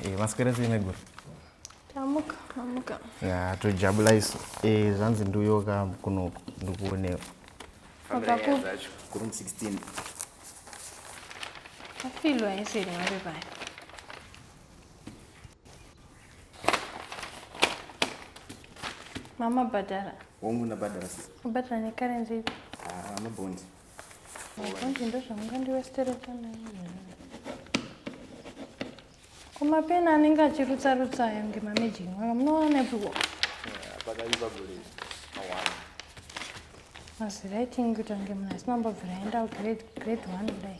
Eh, maswera sei maiguru tamuka amuka ya tojabula isu Eh, zvanzi ndiuyoka kuno ndikuonewa Wakaku- kuroom 16 afilwa eseri mave paya Mama badara. Wangu na badara sisi. Badara ni currency. Ah, ma bond. Bond ndo zvamungandi westera tana. Kuma pena anenge achirutsa rutsa ayo ngema magic. Maka munoona ipo. Pakaiva gule. Awana. Masi writing kutange mna sinombobvira enda grade grade 1 kudai.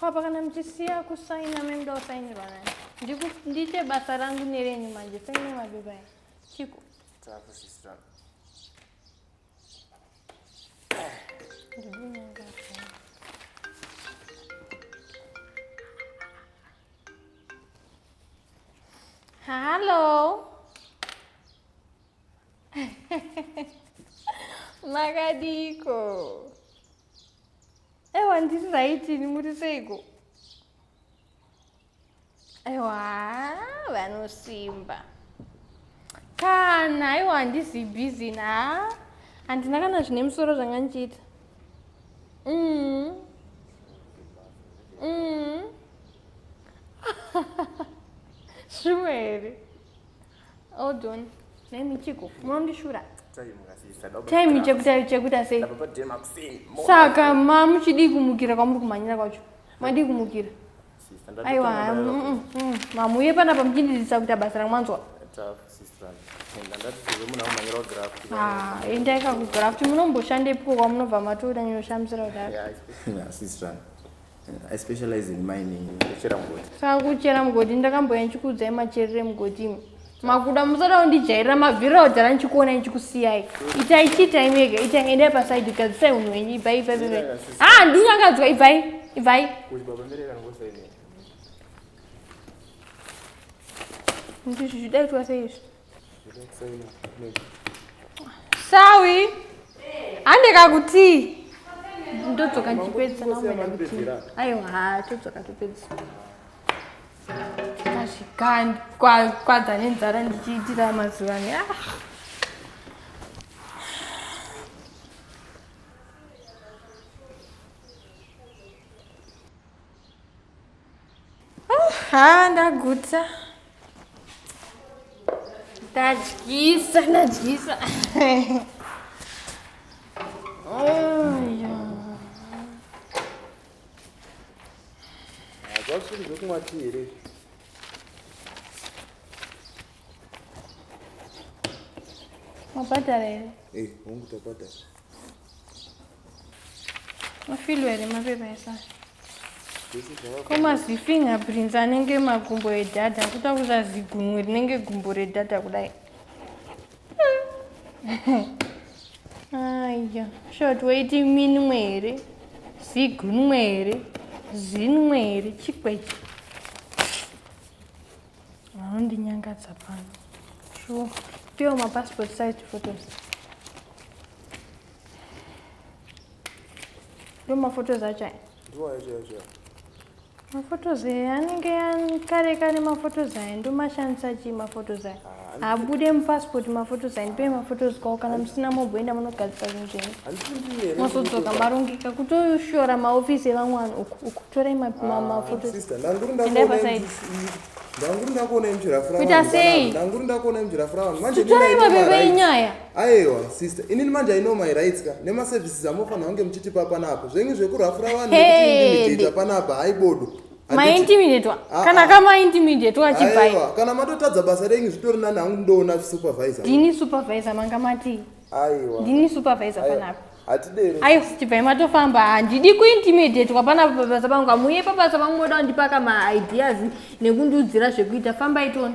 Papa kana muchisiya kusaina memuda kusainirwa nani ndiite basa rangu nerenyu manje saine mapepa aya chiko ndidinanga Hello. Makadiko. Ewa ndiri right ini muri seiko? Ewa vanosimba. Kana aiwa handizi busy na. Handina kana zvine musoro zvanga ndichiita. Mm. Mm. shuwa here hold on nai michiko munondishura time chekuta sei saka ma muchidii kumukira kwamuri kumhanyira kwacho madii kumukira aiwa mm, mm. mamuye panapa muchindidzisa kuita basa ramwanzwa ah, endai kakugraft munomboshandepiko kwamunobva matoda nyoshamsira kudaro I specialize in mining. Kuchera mugodi. Saka kuchera mugodi ndakamboya ndichikuudzai macherere mugodi imi. Makuda musada kundijairira mabvira odhara ndichikuona ndichikusiyai. Itai chiitai mega, itai endai paside gadzisai unhu wenyu ibvai ibvai ibvai. Ah, ndinyangadzwa ibvai ibvai. Ndizvi zvidaitwa sei izvi? sawi handeka kuti ndodzoka ndichipedzisa naumeda kuti aiwa ha todzoka topedzisa ndikasvika kwadza nenzara ndichiitira mazuva ne ah. ha ndagutsa ndadyisa ndadyisa zvasiri zvekumwa ti here mabhadhara here eh hongu tabhadhara mafilo here mapepa esana komazifingerprints anenge magumbo edhadha kuta kuza zigumwe rinenge gumbo redhadha kudai aya short waiti minwe here zigunwe here zinwe here chikwechi vanondinyangadza pano sure piwo mapassport size photos ndo maphotos acho aya maphotos aya anenge kare kare maphotos aya ndomashandisa chii maphotos aya habude mupasipoti mafotos handipei mafotos kwavo kana musina mogoenda munogadzisa zvinhu zvenyu mozodzoka marongeka kutoshora maofisi evamwe vanhu uku uku torai mafotosendapasaidi ndanguri ndakuona imuchirafurakuita sei ndanguri ndakuona imuchirafuravanhu manjetorai mabebe enyaya aiwa sister inini manje aino my rights ka nemaservices amofanira kunge muchitipa panapa zvenyu zvekurafura vanhu nekuti ndimidhita panapa haibodo maintimidetwa ah, kana ah. kamaintimidetwa achipai kana matotadza basa renyu zvitori nani hangu ndoona supervisor ndini supervisor manga matii aiwa ndini supervisor panapa aiwa chibvai matofamba handidi kuintimidetwa pana pabasa pangu hamuye pabasa pangu moda kundipaka maideas nekundiudzira zvekuita fambai tona